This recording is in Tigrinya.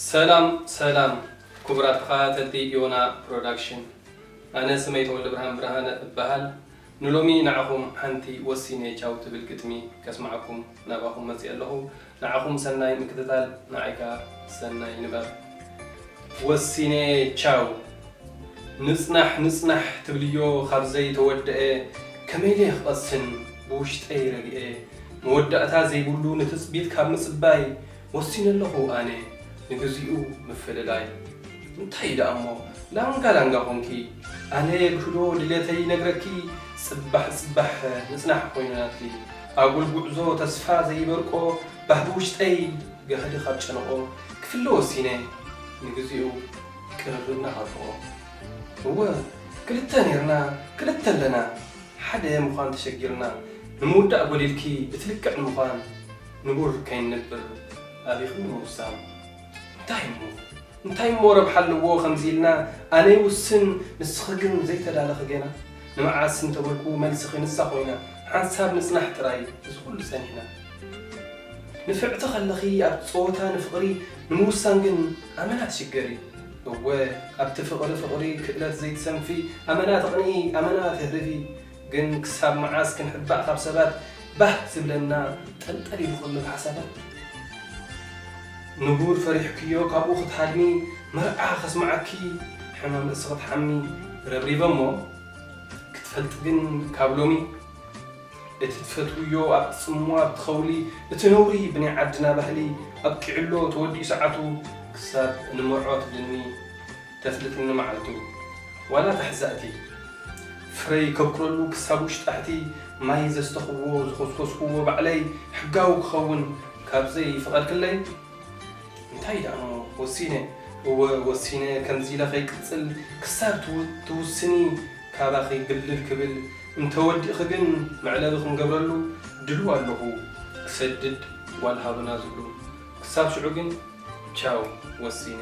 ሰላም ሰላም ኩቡራት ተኻታተልቲ ዮና ፕሮዳክሽን ኣነ ስመይ ተወልደብርሃን ብርሃነ እባሃል ንሎሚ ንዓኹም ሓንቲ ወሲነ ቻው ትብል ግጥሚ ከስማዓኩም ናባኹም መጺኤ ኣለኹ። ንዓኹም ሰናይ ምክትታል ንዓይ ከኣ ሰናይ ንባብ ወሲነ ቻው። ንጽናሕ ንጽናሕ ትብልዮ ካብ ዘይ ተወደኣ ከመይ ደየ ክቐስን ብውሽጠይ ረግኤ መወዳእታ ዘይብሉ ንትጽቢት ካብ ምጽባይ ወሲነ ኣለኹ ኣነ ንግዚኡ ምፍልላይ እንታይ እዩ ደኣ እሞ ላንጋ ላንጋ ኮንኪ ኣነ ግህዶ ድሌተይ ይነግረኪ ጽባሕ ጽባሕ ንጽናሕ ኮይንናትኪ ኣጉል ጉዕዞ ተስፋ ዘይበርቆ ባህጊ ውሽጠይ ጋህዲ ካብ ጨንቆ ክፍለ ወሲነ ንግዚኡ ቅርርብ ናፋፍቆ እወ ክልተ ኔርና ክልተ ኣለና ሓደ ምዃን ተሸጊርና ንምውዳእ ጎዲልኪ እቲ ልክዕ ንምዃን ንቡር ከይንነብር ኣቢኺ ምውሳን እንታይ እሞ እንታይ እሞ ረብሓ ኣለዎ ከምዚ ኢልና ኣነ ይውስን ንስኺ ግን ዘይተዳለኺ ጌና ንመዓስ እንተበልኩ መልስኺ ንሳ ኮይና ሓንሳብ ምጽናሕ ጥራይ እዚ ኩሉ ጸኒሕና ንፍዕቲ ከለኺ ኣብ ጸወታ ንፍቕሪ ንምውሳን ግን ኣመና ትሽገሪ እወ ኣብቲ ፍቕሪ ፍቕሪ ክእለት ዘይትሰንፊ ኣመና ተቕንኢ ኣመና ትህርቢ ግን ክሳብ መዓስ ክንሕባእ ካብ ሰባት ባህ ዝብለና ጠልጠል ኢሉ ከሎ ብሓሳባት ንቡር ፈሪሕክዮ ካብኡ ክትሃድሚ መርዓ ከስምዓኪ ሕማም ርእሲ ክትሓሚ ረብሪበሞ ክትፈልጢ ግን ካብ ሎሚ እቲ ትፈትውዮ ኣብቲ ጽምዋ ኣብቲ ከውሊ እቲ ነውሪ ብናይ ዓድና ባህሊ ኣብቂዑሎ ተወዲኡ ሰዓቱ ክሳብ እንመርዖ ትብልኒ ተፍልጥኒ መዓልቱ ዋላ እታ ሕዛእቲ ፍረ ይከብኩረሉ ክሳብ ውሽጣሕቲ ማይ ዘስተኹዎ ዝኾስኮስኩዎ ባዕለይ ሕጋዊ ክኸውን ካብዘይ ፈቐድክለይ እንታይ ደኣሞ ወሲነ እወ ወሲነ ከምዚ ኢለ ከይቅጽል ክሳብ ትውስኒ ካባኺ ግልል ክብል እንተወዲእኺ ግን መዕለቢ ክንገብረሉ ድሉው ኣለኹ ክሰድድ ጓል ሃብና ዝብሉ ክሳብ ሽዑ ግን ቻው ወሲነ።